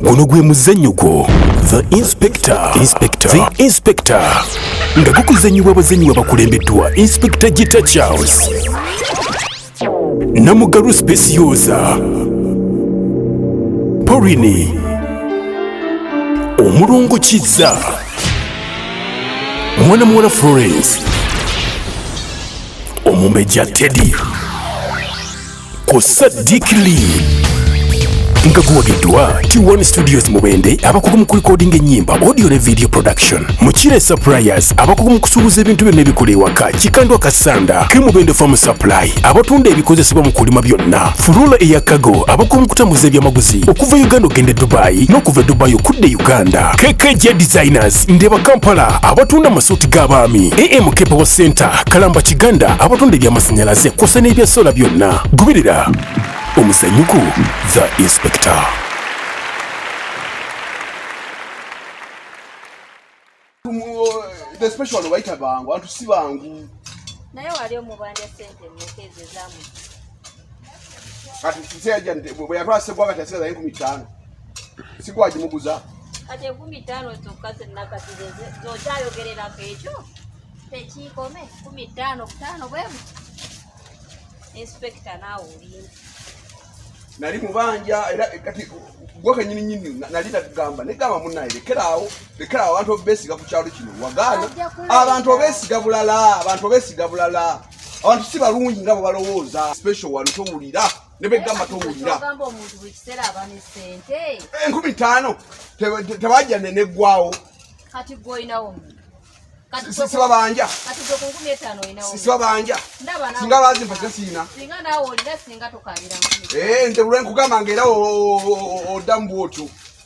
guno gwe muzannyo gwo the inspector inspector the inspector nga gukuzannyibwa abazannyi babakulembeddwa inspector gita charles namugalu specioza porini omulongo kizza mwana muwala florence omumbejja teddy ku Sadiq Lee nga guwagiddwa T1 Studios Mubende abakugu mu kulikodinga ennyimba audio ne video production Mukire Suppliers abakugu mu kusuubuza ebintu byonna ebikola ewaka Kikandwa Kasanda ke Mubende Farm Supply abatunda ebikozesebwa mu kulima byonna Furula eya Cargo abakugu mu kutambuza ebyamaguzi okuva Uganda okugenda e Dubai n'okuva e Dubai okudda e Uganda KKJ Designers Market, Ndeba Kampala abatunda amasuuti g'abaami, AM Kepewo Center, Kalamba Kiganda abatunda eby'amasannyalaze kw'ossa n'ebya sola byonna. Goberera omuzanyuko The Inspector. The special one bayita bangu antu si bangu naye wali omubanja sente mukezi zamu kati siseja bwe yatwala sebwa kati asigaza enkumi ttaano sikuwa gimuguza kati enkumi ttaano zokka zenakati zokyayogererako ekyo tekiikome kumi ttaano butaano bwemu inspekita naawe olinda nali mubanja era kati gwe kenyini nyini nali natugamba negamba munaye lekeraawo lekeraawo abantu obesiga ku kyalo kino wagaana abantu obesiga bulala abantu obesiga bulala abantu si balungi nga bwebalowooza special wano towulira ne begamba towulira enkumi taano tebajja neneggwawo sibabanja sibabanja singa bazimpa sasiina eh, nze lwenkugamba nga era oddamu bwotyo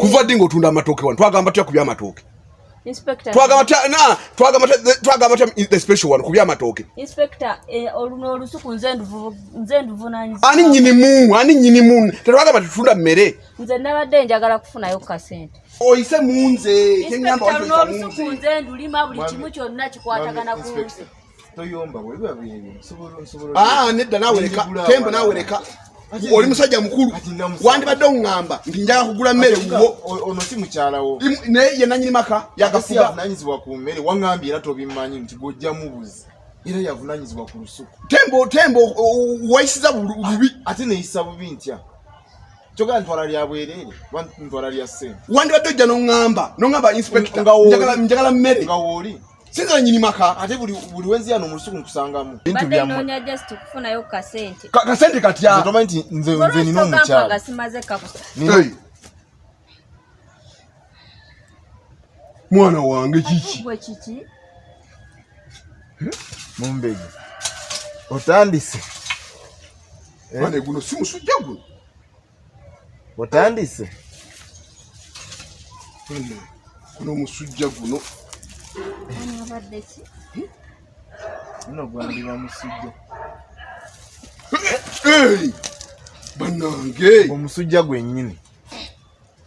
kuva ddi ng'otunda amatooke wano twagamba tya ku byamatooke twagamba tya the special wano ku byamatooke eh, ani nyinimu ani nyinimu tetwagamba tetunda mmere nze nabadde njagala kufunayo ku kasente oyise munze kenyamba waoyise munze nze ndulima buli kimu kyonna kikwatagana ku nze Ah, nedda nawe leka tembo nawe leka oli musajja mukulu wandibadde oŋŋamba nti njaga kugula mmere wuwo ono si mukyalawo naye ye nanyini maka yagafuga avunanyizibwa ku mmere waŋŋambye era tobimmanyi nti gwojja mubuzi era yavunanyizibwa ku lusuku tembo tembo wayisiza bubi ate neyisa bubi ntya kyogala ntwala lya bwerere ntwala lya sente wandibadde ojja noŋŋamba noŋŋamba inspector njagala mmere nga wooli Sina nyini maka ate buli buli wenzi yano musuku nkusangamu. Bintu bya mwe. Bade just kufuna yo ka sente. Ka, ka sente kati ya. Nzoma nti nze nze nino mucha. Kwa simaze ka. Nino. Hey. Mwana wange chichi. Kwa chichi. Mumbegi. Otandise. Eh? Mane guno simu sujagu. otandise kuno musujja guno guno gwandiba musujja banange omusujja gwenyini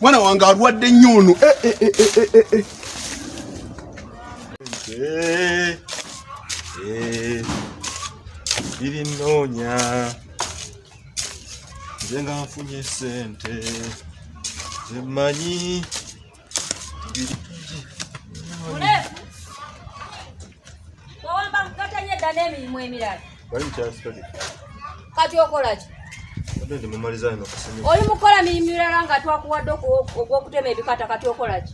mwana wange alwadde nnyo ono eh, eh, eh, birinoonya nze nga nfunye sente zemanyi wawamba nkatanye dda n'emirimu emirala kati okolaki oli mukola mirimu mirala nga twakuwadde ogw'okutema ebikata kati okolaki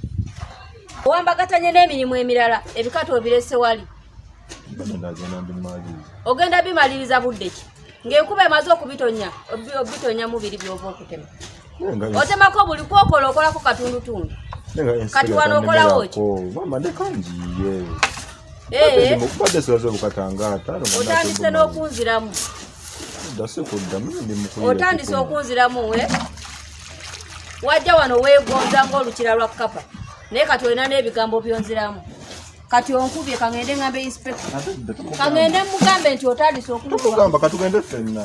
owambagatanye n'emirimu emirala ebikata obirese wali ogenda bimaliriza budde ki ng'enkuba emaze okubitonya obitonyamu biri byova okutema otemako buli kwokola okolako katundutundu kati wano okolawo ki eh. otandise n'okunziramu otandise okunziramu eh? wajja wano wegonza ngaolukira lwa kapa naye kati olina n'ebigambo byonziramu kati onkubye kangende ngambe inspector kangende mugambe nti otandise okulugamba katugende fenna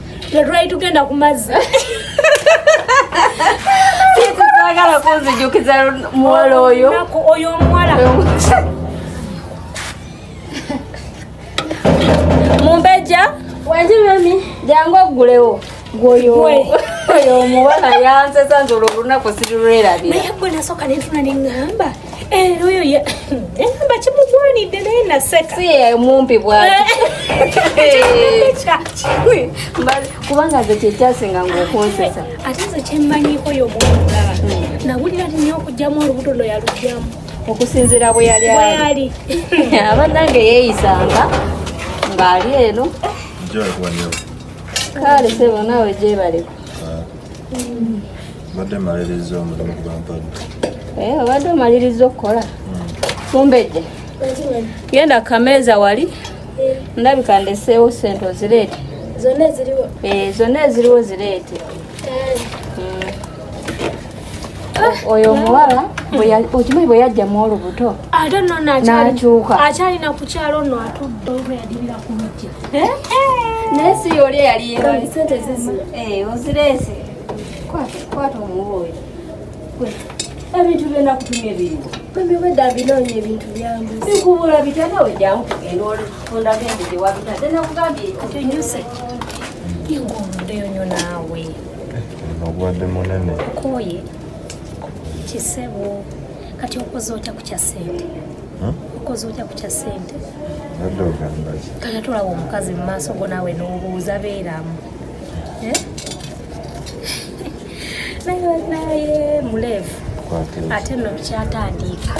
tetwali tugenda ku mazzi sagala kunzijukiza muwala oyo oyo omuwala mumbeja wanje mami jangu oggulewo gwoyo oyo omuwala yansesa nze olwo olunaku sirirwerabira naye gwe nasooka nentuna neŋŋamba Eh, oyo ye enamba kimugwanidde naye naseka si ye mumpi bwati eh. kubanga nze kyekyasinga ngaokunsesa ate nze kyemmanyiiko yo mwamugaba hmm. nawulira nyo okugyamu olubuto lwe yalugyamu okusinzira bwe yali ali abanange yeeyisanga ng'ali eno kale sebo naawe gyebaleko mbadde maliriza omulimu gwampadde eh, obadde omaliriza okukola hmm. mumbejje genda kameeza wali eh. ndabika ndeseewo sente ozireete zonna eziriwo eh, zonna eziriwo zireete hmm. oyo omuwala okimanyi bwe yajjamu olubuto ate nonakyuka akyalina kukyalo no atudde Eh? naye si yoli eyaliyo sente zizi eh, ozireese kwata omuwooyo ebintu byona kutumya ebintu bwemiwedde abinoonya ebintu byange bikubula bitana wejamu kugenda olifunda gende gyewabitadde nakugambye okinyuse ingomuddeyo nyo naawe obwadde munene koye kisebo kati okoze otya ku kya sente okoze otya ku kya ssente kale tolawa omukazi mu maaso go naawe n'obuuza beeramu eh? naye naye muleevu ate nno bikyatandiika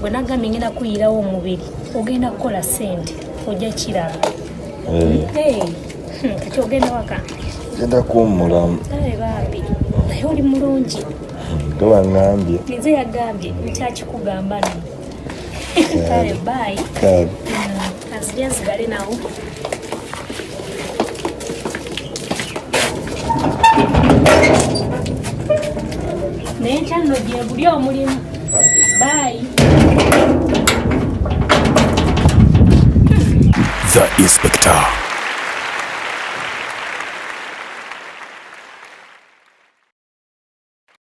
bwe nagambye ngenda kuyirawo omubiri ogenda kukola ssente ojja kiraba eh. Hmm, kati ogenda waka genda kuwummulamu naye bambi naye oli mulungi tewangambye nze yagambye nti akikugamba no kale bayi kansirya mm, nsigale nawo naye nkyanno gyebuli omulimu bayi the inspector